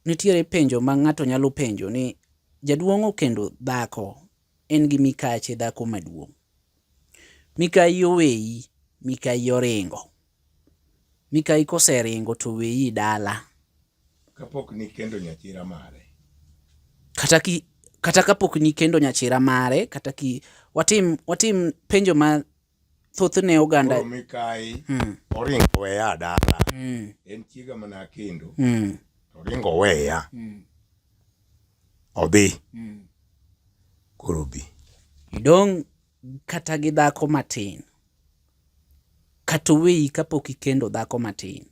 Nitiere penjo ma ng'ato nyalo penjo ni jaduong' okendo dhako en gi mikache dhako maduong'. Mikayi oweyi, mikayi oringo. Mikayi koseringo to oweyi dala. Kapok nikendo nyachira mare. Kata ki kata kapok nikendo nyachira mare kata ki watim watim penjo ma thothne oganda koro mikayi mm. oringo weya dala mm. en chiega mana kendo mm. oringo weya mm. odhi mm. koro bi idong' kata gi dhako matin kata oweyi kapok ikendo dhako matin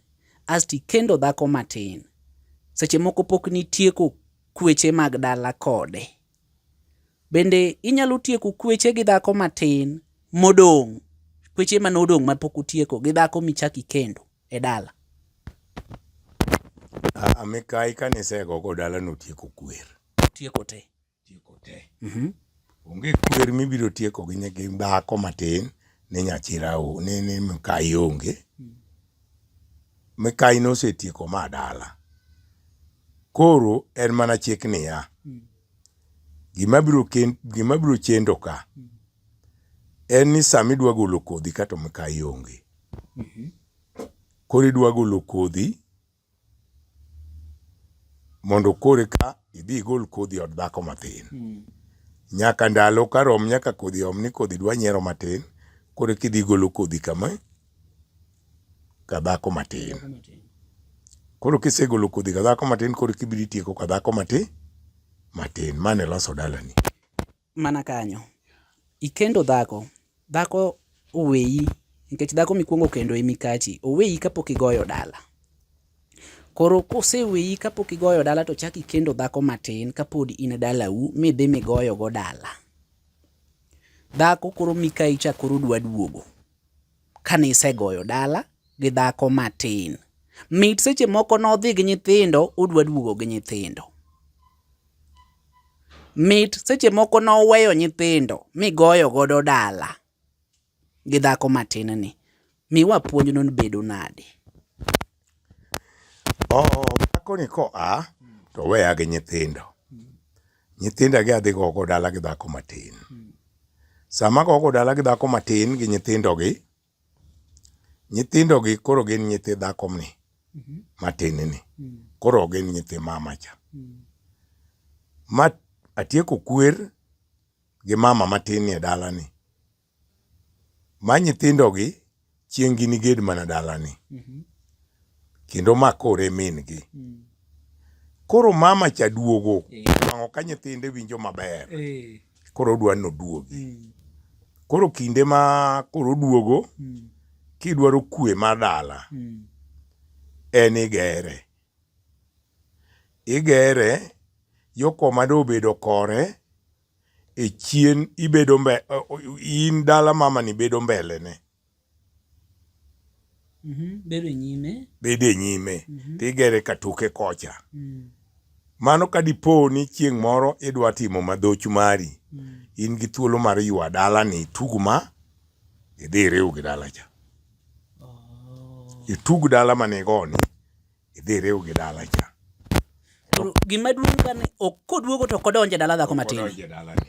asto ikendo dhako matin seche moko pok nitieko kweche mag dala kode Bende inyalo tieko kweche gi dhako matin modong', kweche mane odong' ma pok utieko gi dhako michak ikendo e dala. Aa, mikayi kane isego go dala notieko kwer. Tieko te. Tieko te. Mhm. Onge kwer mibiro tieko gi nyigi dhako matin ni nyachira o, ni ni mikayi onge. mikayi nosetieko ma dala. Koro en mana chik niya, gima biro ken- gima biro chendo ka en ni sama idwa golo kodhi kato mikayi onge. Koro idwa golo kodhi mondo kore ka idhi igol kodhi od dhako matin hmm. nyaka ndalo ka rom nyaka kodhi om ni kodhi dwa nyiero matin kore ka idhi igolo kodhi kama ka dhako matin koro kisegolo kodhi ka dhako matin koro kibiro itieko ka dhako matin matin mane loso dalani mana kanyo. Ikendo dhako, dhako oweyi nikech dhako mikwongo kendo e mikachi, oweyi kapok igoyo dala. Koro koseweyi kapok igoyo dala to chak ikendo dhako matin kapod in dalau midhi migoyogo dala. Dhako koro mikayi cha koro dwa duogo. kane isegoyo dala gi dhako matin. Mit seche moko nodhi gi nyithindo udwa duogo gi nyithindo. Mit seche moko noweyo nyithindo migoyo godo dala gi dhako matin ni. Miwa puonj no bedo nade? Dhako ni koa to oweya gi nyithindo. Nyithinda gi adhi gogo dala gi dhako matin. Sama gogo dala gi dhako matin gi nyithindogi, nyithindogi koro gin nyithi dhakomni matin ni. Koro gin nyithi mama cha. Ma atieko kwer gi mama matin ni e dalani. ma nyithindogi chieng' giniged mana dalani kendo ma kore min-gi. Koro mama cha duogo nwang'o ka nyithinde winjo maber koro odwa ni oduogi. Koro kinde ma koro oduogo kidwaro kwe mar dala en igere. Igere, yo koma dobedo kore. e chien ibedo mbe, in dala mamani bedo mbele ne mm -hmm. bedo e nyime bedo e nyime mm -hmm. tigere katoke kocha mm. mano ka dipo ni chieng' moro idwa timo madhoch mari mm. in gi thuolo mar ywa dala ni tug ma idhi iriw gi dala cha oh. itug dala manigoni idhi iriw gi dala cha. Gima duong' ka ni ok koduogo to kodonje dala dhako matin. Kodonje dalani.